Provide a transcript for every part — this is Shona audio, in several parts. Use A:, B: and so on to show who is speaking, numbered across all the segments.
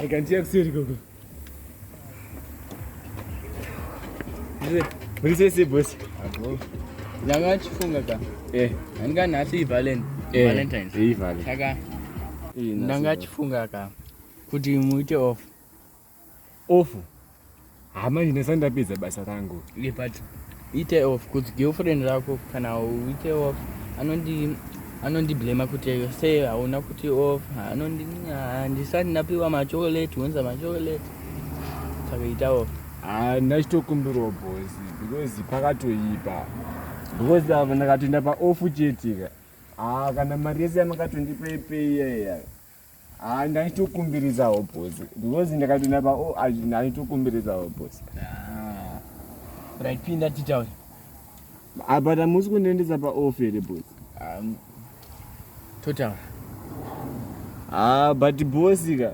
A: Rega ndiye kuseri gogo. Ndise se boss. Ago.
B: Nyanga chifunga ka. Eh. Anga nasi Valentine. Eh. Valentine's. Eh, Valentine. Saka. Ndanga chifunga ka. Kuti muite off.
A: Off. Ah, manje ndasati ndapedza basa rangu. Yeah, but
B: ite off kuti girlfriend rako kana uite off anondi anondiblema kuti se hauna kuti off anondi ah, ndisati ndapiwa machokolate wonza machokolate saka ita off ah, ndachitokumbirwa
A: boss because pakatoipa because ava ndakatoenda paoff chetika ah, kana mari yese yamakatondipa ipeiya iya Ah, ndaitokumbiridzawo boss because ndakapinda pa oh, ah, ndaitokumbiridzawo boss ah.
B: raipinda titaure ah,
A: but hamusi kundiendesa pa off here boss um,
B: totaura ah,
A: but boss ka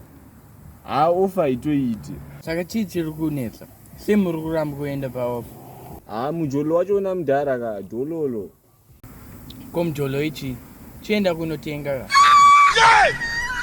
A: ah, off haitoiti saka chii chiri
B: kunetsa se muri kuramba kuenda pa off ah, mujolo
A: wacho una mudhara ka dololo
B: Ko mjolo ichi
A: chienda
B: kunotenga ka.